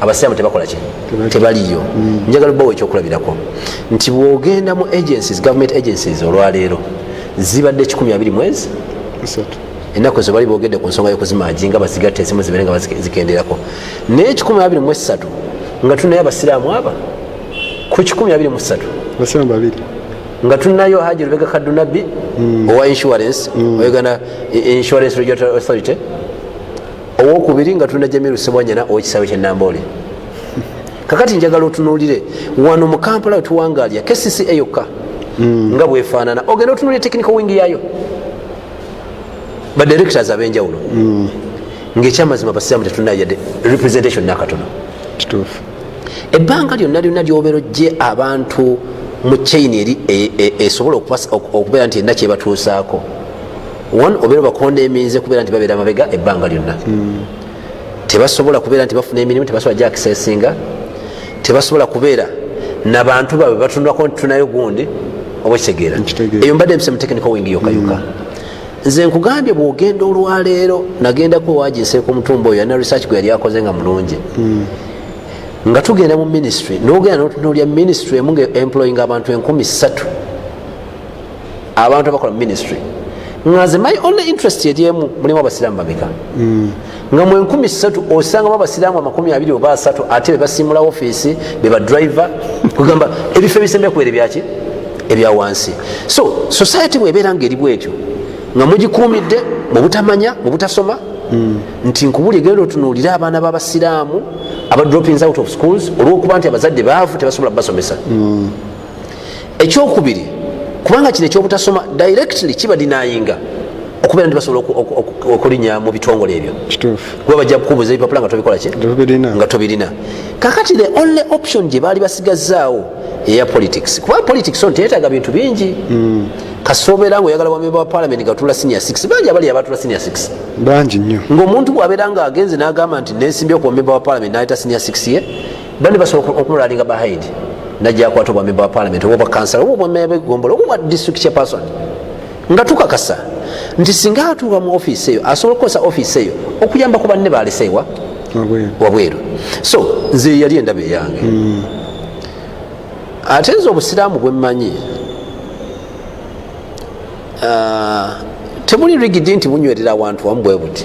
abasiraamu tebakola ki tebaliyo mm. njagala bawo ekyokulabirako nti bwogenda mu agencies government agencies olwaleero zibadde 12 mwezi ennaku ezo bali boogedde ku nsonga y'okuzimanji nga bazigatta ezimu zibeere nga bazikenderako naye kikumi abiri mu essatu nga tunayo abasiraamu aba ku kikumi abiri mu ssatu basiraamu babiri nga tunayo haji lubega kadunabbi hmm. owa insurance hmm. oyogana insurance regulatory authority owokubiri nga tulina jamiru sebwanyana owekisawe kyenamboole kakati njagala otunulire wano mu kampala wetuwangalya kcca yokka hmm. nga bwefaanana ogenda otunulire technical wing yayo ba directors abenjawulo mm. ngaekyamazima basiramu tetunayo yadde representation nakatono ebbanga lyonna lyonna lyobeera ojje abantu mu chain eri e, e, esobola okubeera nti erina kyebatuusaako one obeera obakonda eminze kubeera nti babeera mabega ebbanga lyonna mm. tebasobola kubeera nti bafuna emirimu tebasobola jakisesinga tebasobola kubeera nabantu babwe batunulako nti tunayo gundi oba kitegeera eyo mbadde mpise mutekinika wingi yokayuka mm. nze nkugambye bwogenda olwaleero nagendako waginseeka omutumba oyo alina research gwe yali akoze nga mulungi mm. nga tugenda mu ministry nogenda notunulya ministry emu nga employing abantu enkumi satu abantu abakola ministry nga nze my only interest eryemu mulimu abasiraamu bameka hmm. nga mu enkumi ssatu osangamu abasiraamu amakumi abiri oba asatu ate bebasiimula ofiisi bebadriver kugamba ebifo ebisembe kubeere byaki ebya wansi so society bwebeera nga eri bwetyo nga mugikuumidde mu butamanya mu butasoma hmm. nti nkubuli genda otunuulire abaana b'abasiraamu aba droppings out of schools olwokuba nti abazadde baavu tebasobola kubasomesa hmm. ekyokubiri kubanga kino ekyobutasoma directly kiba dinayinga okubeera nti basobola okulinya mu bitongole ebyo kuba bajja kukubuza ebipapula nga tobikolaki nga tobirina kakati the only option gye baali basigazaawo eya politics kuba politics on teyetaaga bintu bingi mm. kasobeera nga oyagala bamemba wa palamenti gatula senior 6 bangi abali abatula senior 6 bangi nnyo ngaomuntu bwabeera nga agenze n'agamba nti nesimbye ku bamemba wa palamenti nayita senior 6 ye bani basobola okumulalinga behind najja akwata obwa memba wa parliament oba obwakansala oba obwameya begombola oba obwa district chairperson nga tukakasa nti singa atuuka mu ofiisi eyo asobola okukozesa ofiisi eyo okuyamba ku banne baleseewa wabweru so nze yali endaba eyange hmm. ate nze obusiraamu bwemmanyi ah, temuli rigidi nti bunywerera awantu wamu bwe buti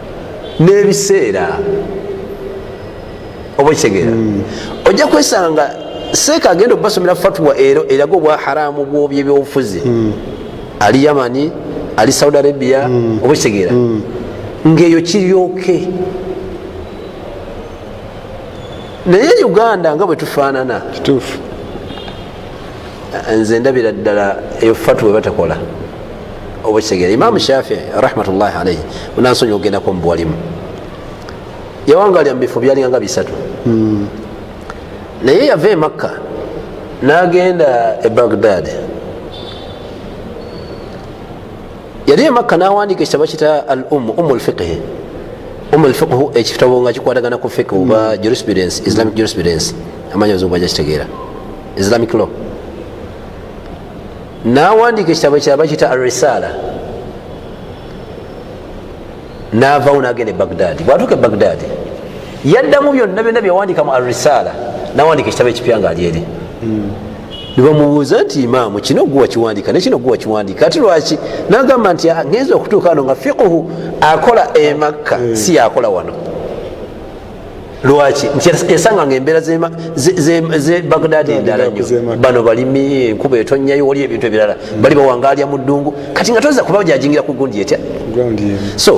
n'ebiseera oba okitegeera hmm. ojja kwesanga seeka agenda okubasomera fatwa ero eraga obwa haramu bwobyebyobufuzi hmm. ali yamani ali saudi arabia hmm. oba okitegeera ngaeyo kiryoke naye uganda nga bwetufaanana nze ndabira ddala eyo fatwa ebatakola oba kitegera imamu shafii rahmatullahi alaihi munansonyi ogendako mubuwalimu yawangalya mubifo byalinganga bisatu hmm. naye yava emakka nagenda e bagdad yali emakka nawandika ekitabo kita al um umu lfiqhi umu lfiqhu ekitabo nga kikwatagana ku fiqh oba hmm. jurisprudence islamic jurisprudence amanyi ozungu aja kitegeera islamic law nawandiika ekitabo kya bakita arisaala navawo nagenda e bagdaadi bwatuuka e bagdaadi yaddamu byonna byonna byewandiika mu arisaala nawandiika ekitabo ekipya nga alyeri hmm. nebamubuuza nti imaamu kino gwe wakiwandiika nekino gwe wakiwandiika ati lwaki nagamba nti ah, ngenza okutuuka ano nga fiquhu akola emakka hmm. si yakola wano lwaki nti yasanga nga embeera ze bagdadi endala nyo bano balimi enkuba etonyayo wali ebintu ebirala hmm. bali bawangalya mu ddungu kati nga toza kuba jajingira ku gundi etya so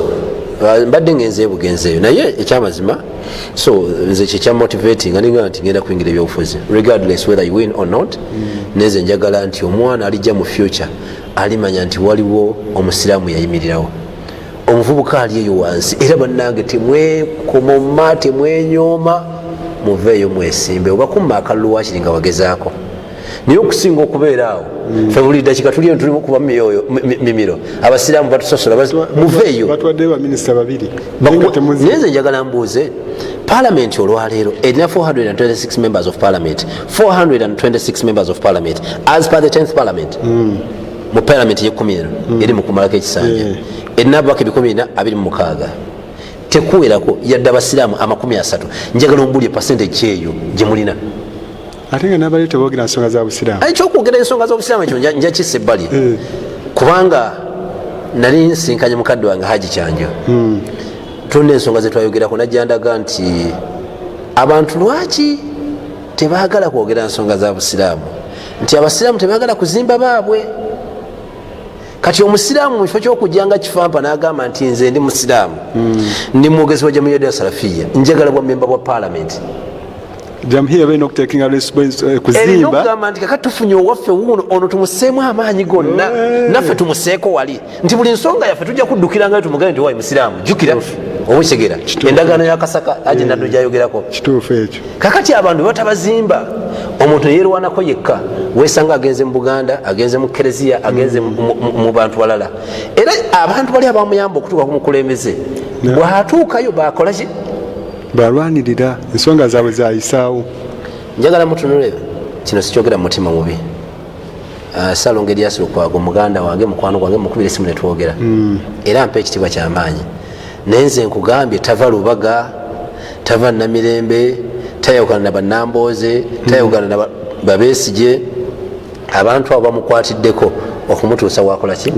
uh, mbadde ngenze ebugenzi eyo naye ekyamazima so nze kyekya motivating aninga nti ngenda kuyingira ebyobufuzi regardless whether you win or not hmm. neze njagala nti omwana alijja mu future alimanya nti waliwo omusiraamu yayimirirawo omuvubuka ali eyo wansi era bannange temwekomoma temwenyooma muveeyo mwesimbe oba kumma akalulu wakiri nga wagezaako naye okusinga okubeera awo mm. fe buli dakika tuli eno tulimu kuba mumyoyo mimiro abasiraamu batusosola muveeyo naye nze njagala mbuuze palamenti olwaleero erina 426 members of parliament 426 members of parliament as per the 10th parliament mm. mu palamenti yekumi eno hmm. eri mukumalako ekisanja eh. erina ababaka ebikumi bina abiri mumukaaga tekuwerako yadde abasiraamu amakumi asatu njagala ombulye pasente kyeyo gyemulina ate nga nabali tebogera nsonga za busiraamu ekyokwogera ensonga zobusiraamu ekyo njakisa ebbali eh. kubanga nali nsinkanye mukadde wange haji kyanjo hmm. tulina ensonga zetwayogerako najjandaga nti abantu lwaki tebagala kwogera nsonga za busiraamu nti abasiraamu tebagala kuzimba baabwe kati omusiraamu mukifo kyokujja nga kifampa nagamba nti nze ndi musiraamu hmm. ndi mwogezi wa jamiyadi ya salafiya njagala bwa memba bwa palamenti erina okugamba nti kakati tufunye owaffe wuuno ono tumuseemu amaanyi gonna eh. naffe tumuseeko wali nti buli nsonga yaffe tujja kuddukira ngayo tumugambe nti wayi musiraamu jjukira obukigera endagaano ya kasaka aje naddo eh, gyayogerako kituufu ekyo kakati abantu batabazimba omuntu neyerwanako yekka wesanga agenze mu buganda agenze mu kereziya agenze mu bantu balala era abantu bali abamuyamba okutuuka ku mukulembeze bwatuukayo bakolaki balwanirira ensonga zaabwe zayisaawo njagala mutunule kino sikyogera mu mutima mubi Ah, salongo elias lukwago muganda wange mukwano gwange mukubira esimu netwogera hmm. era mpa ekitiibwa kyamaanyi naye nze nkugambye tava lubaga tava namirembe tayawukana na banambooze hmm. tayawukana na babesije abantu abo bamukwatiddeko okumutuusa wakolaki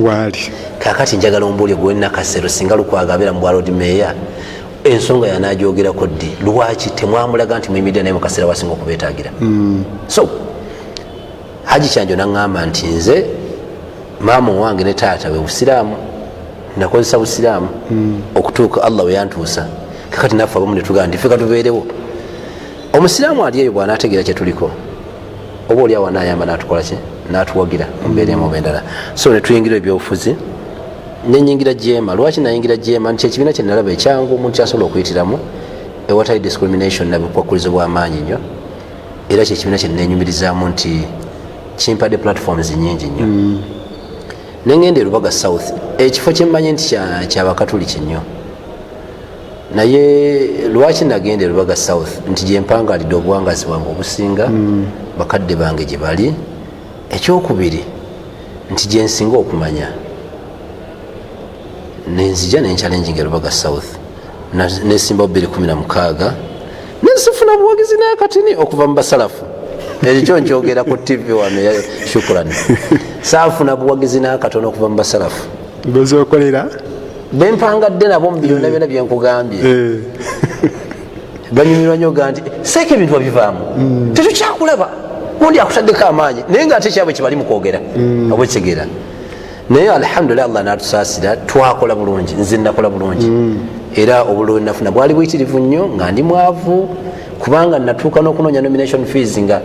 kakati njagala ombuulyo gwe nakasero singa lukwago abeera mubwalod meeya ensonga yanagyogerako ddi lwaki temwamulaga nti muyimiddira naye mukaseera wasinga okubetagira hmm. so haji kyanjo naŋamba nti nze maama owange ne taata we busiraamu nakozesa busiraamu hmm. okutuuka allah weyantuusa kakati naffe abamu netugaa nti feka tubeerewo omusiraamu ali eyo bwanategeera kyetuliko oba oli awa nayamba natukolaki natuwagira mumbeera emu bendala so netuyingira ebyobufuzi nenyingira jeema lwaki nayingira jeema nti kyekibiina kyenalaba ekyangu omuntu kyasobola okuyitiramu ewatali discrimination nabukwakkulizo bwamaanyi nyo era kyekibiina kyenenyumirizaamu nti kimpadde platforms nyingi nnyo mm. nengenda erubaga south ekifo kyemmanyi nti kyabakatuliki nnyo naye lwaki nagenda erubaga south nti gyempangalidde obuwangazi bwange obusinga mm. bakadde bange gye bali ekyokubiri nti gyensinga okumanya nenzija nencalenjinga erubaga south nesimbawo 216 nesifuna buwagizi nakatini okuva mu basalafu ekyo nkyogera ku tv wano shukuran saafuna buwagizi nakatono okuva mu basalafu bezokolera bempangadde nabo mubyona byona byenkugambye eh. banyumirwa nyo ga nti seeka ebintu babivaamu mm. tetukyakulaba undi akutaddeko amaanyi naye nga ate kyabwe kibali mukwogera mm. obwekigera naye alhamdulilah allah natusaasira twakola bulungi nze nakola bulungi mm. era obululu wenafuna bwali buyitirivu nnyo nga ndi mwavu kubanga natuuka n'okunoonya nomination fees nga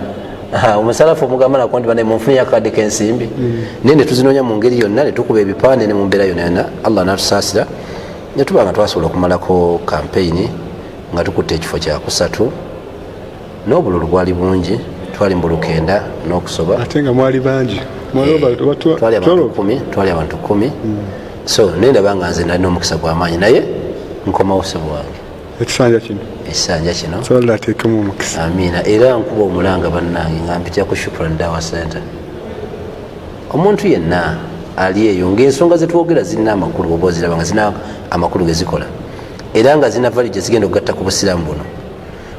omusalafu omugamba nako nti bane munfuni yakade kensimbi mm. naye netuzinoonya mu ngeri yonna netukuba ebipande ne mu mbeera yonna yonna allah natusaasira netuba nga twasobola okumalako kampeyini nga tukutte ekifo kyakusatu n'obululu bwali bungi twali mbulukenda n'okusoba ate nga mwali bangi twali abantu kumi twali abantu kumi hmm. so naye ndaba nga nze nalina omukisa gw'amaanyi naye nkomawo ssebo wange ekisanja kino ekisanja kino atekemu omukisa amiina era nkuba omulanga bannange nga mpitya ku shukran dawa center omuntu yenna ali eyo ngaensonga zetwogera zirina amakulu oba oziraba nga zirina amakulu gezikola era nga zirina valije zigenda okugatta ku busiramu buno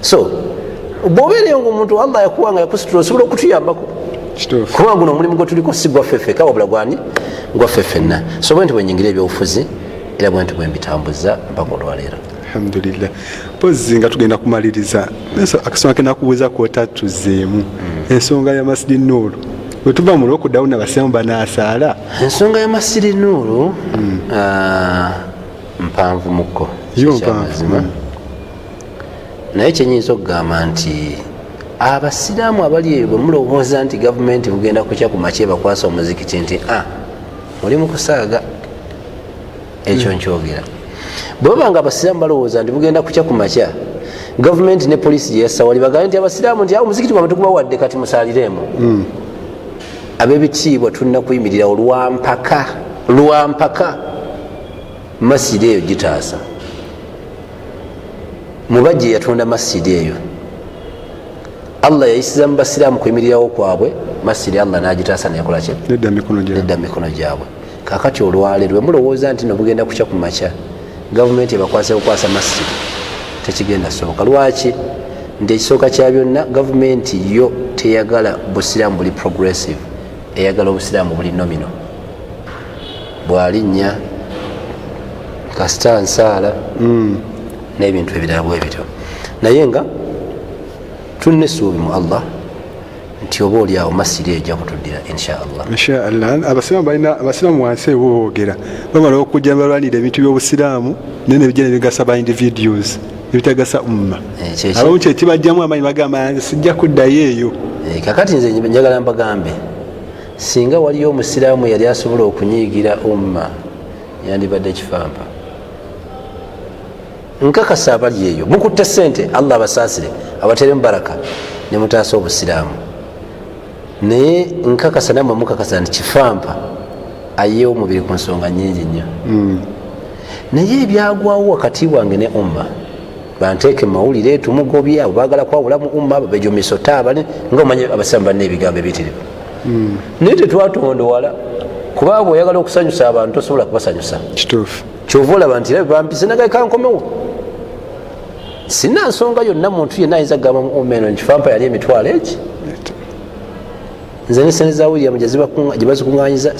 so bwobeereyo nga omuntu wamba yakuwa nga yakusitula osobola okutuyambako kuba guno omulimu gwetuliko si gwaffeffeka wabula gwani gwaffe ffenna so bwe nti bwenyingira ebyobufuzi era bwe nti bwembitambuza mpaka olwaleero alhamdulillah pozi nga tugenda kumaliriza akasonga kenakubuuza kwota tuzeemu hmm. ensonga ya masidi nuulu wetuva mu lwokudawo nabasiramu banasaala ensonga ya masidi nuulu hmm. ah, mpanvu mukko yo mpanvu naye kyenyinza okugamba nti abasiraamu abali eyo bwemulowooza nti gavumenti bugenda kukya kumakye bakwasa omuzikiti nti a ah, muli mukusaaga ekyo hmm. nkyogera bwebaba nga abasiraamu balowooza nti bugenda kukya kumakya gavumenti ne polisi gyeyasawali bagambe nti abasiraamu nti awo omuzikiti gwamwe tugubawadde kati musalireemu hmm. abebitiibwa tulina kuyimirira olwampaka lwampaka masiri eyo gitaasa mubajja eyatonda masjidi eyo allah yayisiza mu basiraamu kwemirirawo kwabwe masjidi allah nagitaasa neyakolaki nedda mumikono gyabwe kakati olwale lwe mulowooza nti nobugenda kukya ku makya gavumenti ebakwasa kukwasa masjidi tekigenda soboka lwaki nti ekisooka kya byonna gavumenti yo teyagala busiraamu buli progressive eyagala obusiraamu buli nomino bwalinnya kasita nsaala hmm. n'ebintu ebirala bwe bityo naye nga tulina essuubi mu allah nti oba oli awo masiri ejja kutuddira inshaallah inshaallah abasiraamu balina abasiraamu wansi ebo boogera bamala okujja balwanira ebintu by'obusiraamu naye nebijja nebigasa ba individuals ebitagasa umma eh, abamu kyekibajjamu amanyi bagamba sijja kuddayo eyo eh, kakati nze njagala mbagambe singa waliyo omusiraamu yali asobola okunyiigira umma yandibadde kifampa nkakasa abali eyo mukutte sente allah abasaasire abateremu baraka ne mutaasa obusiraamu naye nkakasa namwe mukakasa nti kifampa ayeewo omubiri ku nsonga nyingi nnyo hmm. naye ebyagwawo wakati wange ne umma banteeke mumawulire tumugobya bagala kwawula mu umma babejumisa otaabale nga omanyi abasilamu balina ebigambo ebitirivu hmm. naye tetwatondowala kubanga oyagala okusanyusa abantu tosobola kubasanyusa kyova olaba nti era bampise nagaekankomewo sina nsonga yonna muntu yenna ayinza kugamba mu umma eno nkifampa yali emitwalo eki nze nesente za william gyebazikunganyiza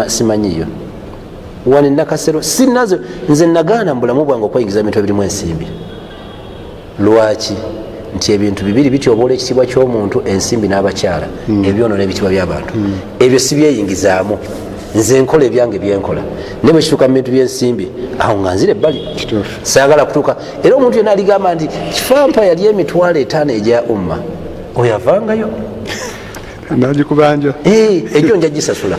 simanyiyo wano enakasero sinazo nze nagaana mu bulamu bwange okweyingiza bintu ebirimu ensimbi lwaki nti ebintu bibiri bityoboola ekitiibwa kyomuntu ensimbi n'abakyala hmm. ebyonona ebitiibwa byabantu hmm. ebyo sibyeyingizaamu nze nkola ebyange byenkola naye bwekituuka mu bintu byensimbi awo nga nzira ebbali saagala kutuuka era omuntu yena aligamba nti kifampa yali emitwalo etaano egya umma oyo avangayo nagikubanja eh, egyo nja gisasula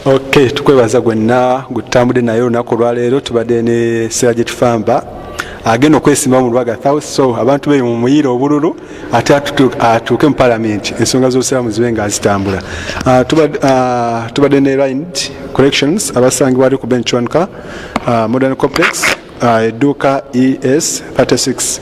ok tukwebaza gwenna gwetutambudde naye olunaku olwaleero tubadde ne sera gyetufamba agenda okwesimba mu lubaga thou so abantu beyo mu muyiira obululu ate atuuke mu palamenti ensonga z'obusiraamu zibe nga azitambula ah, ah, tubadde ne rind corrections abasangibwali ku benchwanka ah, modern complex Ah, edduuka es 36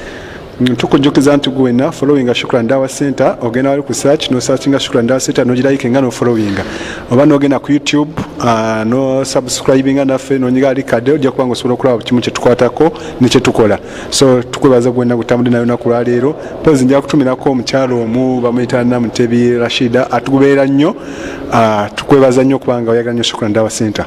tukujjukiza nti gwena followinga shukran dawa center ogenda wali ku search no searchinga shukran dawa center nogirayike nga nofollowinga oba nogenda ku youtube uh, no subscribinga naffe nonyiga ali kade ojja kubanga osobola okulaba kimu kyetukwatako nekyetukola so tukwebaza gwena gutambudde nayo naku lwaleero pozi nja kutumirako omukyala omu bamuyita namutebi rashida atugubeera nnyo uh, tukwebaza nnyo kubanga oyagala nnyo shukran dawa center